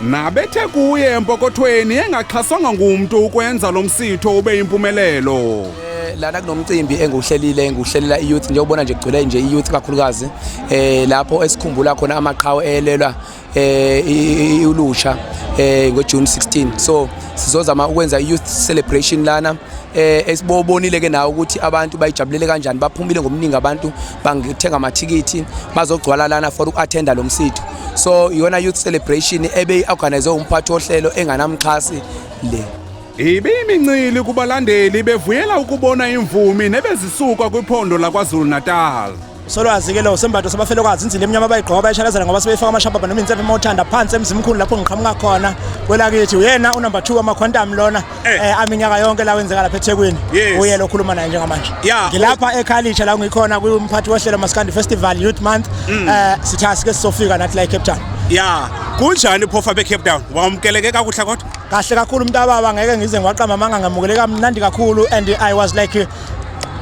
Nabethe kuye empokothweni engaxhaswanga ngumntu ukwenza lo msitho ube yimpumelelo. Eh, lana kunomcimbi engiwuhlelile engiwuhlelela i-youth njengobona nje kugcwele nje i-youth kakhulukazi eh lapho esikhumbula khona amaqhawe elelwa eh ulusha eh ngoJune 16 so sizozama ukwenza i-youth celebration lana eh esibobonile ke nawo ukuthi abantu bayijabulele kanjani baphumile ngobuningi abantu bangithenga amathikithi bazogcwala lana for uku-athenda lo msitho so iyona youth celebration ebeyi-organize umphathi wohlelo enganamxhasi le ibiyimincili kubalandeli bevuyela ukubona imvumi nebezisuka kwiphondo lakwazulu-natal solwazi-ke lo sembatho sabafelokazi inzila emnyama bayigqoka bayishalazela ngoba sebeyifaka amashabhaba noma insephe uma uthanda phansi emzimkhulu lapho ngiqhamuka khona kwelakithi uyena unumber two amakhwantam lona Eh. eh aminyaka yonke la wenzeka lapha eThekwini uye lokhuluma naye njengamanje ngilapha eKhalisha la ngikhona kumphathi wohlelo Maskandi Festival Youth Month mm. eh sitha sike sizofika nathi la eCape Town ya kunjani phofa beCape Town wamukeleke kakuhle kodwa kahle kakhulu umuntu ababa ngeke ngize ngiwaqamba amanga ngamukele kamnandi kakhulu and i was like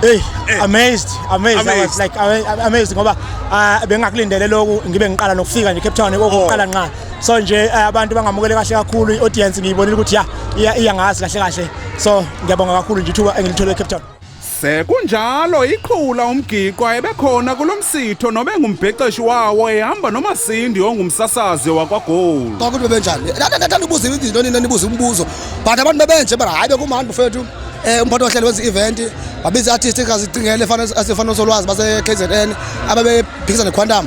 Hey, eh. amazed, amazed, I was like amazed ngoba ah, bengakulindele lokhu ngibe ngiqala nokufika nje Cape Town okokuqala oh. nqa so nje eh, abantu bangamukele kahle kakhulu i-audience ngiyibonile ukuthi ya iya iya ngazi kahle kahle so ngiyabonga kakhulu nje ithuba engilithole eCape Town Sekunjalo iqhula umgiqwa ebekhona kulomsitho nobe ngumbhexeshi wawo ehamba nomasindi ongumsasazi wakwaGold. Konke into benjani? Nathanda ubuza izinto nina nibuza umbuzo. But abantu bebenje bara hayi bekumandi mfethu. Eh umphathi ohlelo wenza event wabiza artist kazi cingele fanele asifana solwazi base KZN ababephikisa neQuantum.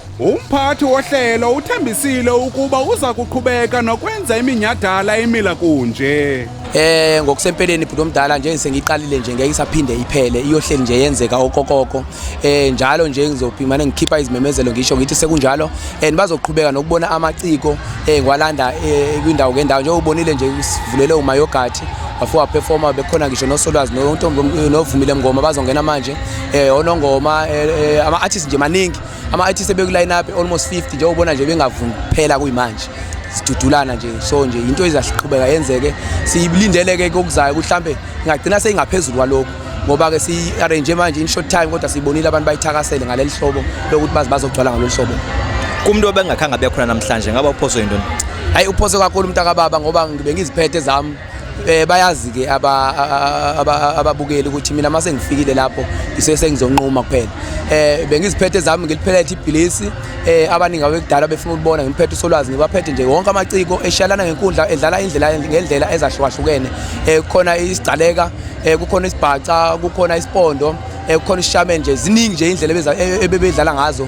Umphathi wohlelo uthembisile ukuba uza kuqhubeka nokwenza iminyhadala emila kunje. Eh ngokusempeleni bhuti omdala nje sengiqalile nje ngeke isaphinde iphele iyohleli nje yenzeka okokoko. Eh njalo nje ngizophimana ngikhipha izimemezelo ngisho ngithi sekunjalo and bazoqhubeka nokubona amaciko eh ngwalanda eh, kwindawo ngendawo nje ubonile nje usivulele umayogathi bafo waperforma bekhona ngisho nosolwazi nontombi novumile mngoma bazongena manje eh onongoma eh, eh, ama artists nje maningi ama-artist ebekuline up almost 50 njengobona nje bengavumi kuphela kuyimanje sidudulana nje so nje into ezasiqhubeka yenzeke siyilindeleke kokuzayo ukuthi mhlambe ingagcina seyingaphezulu kwalokho ngoba ke si-arrange manje in short time kodwa siyibonile abantu bayithakasele ngaleli hlobo lokuthi bazi bazogcwala ngalolu hlobo kumuntu obengakhange abe khona namhlanje ngaba uphoswe yintoni hayi uphoswe kakhulu umntakababa ngoba ngibengiziphethe zami Eh bayazi ke ababukeli ukuthi mina mase ngifikile lapho ngisese ngizonquma kuphela. Eh bengiziphethe zami ngiliphethe ibhilisi eh abaningi abekudala befuna ukubona ngiphethe usolwazi ngibaphethe nje wonke amaciko eshalana ngenkundla edlala indlela ngendlela ezahlukahlukene. Eh khona isigcaleka, eh kukhona isibhaca, kukhona isipondo, eh kukhona isishame nje ziningi nje indlela ebebedlala ngazo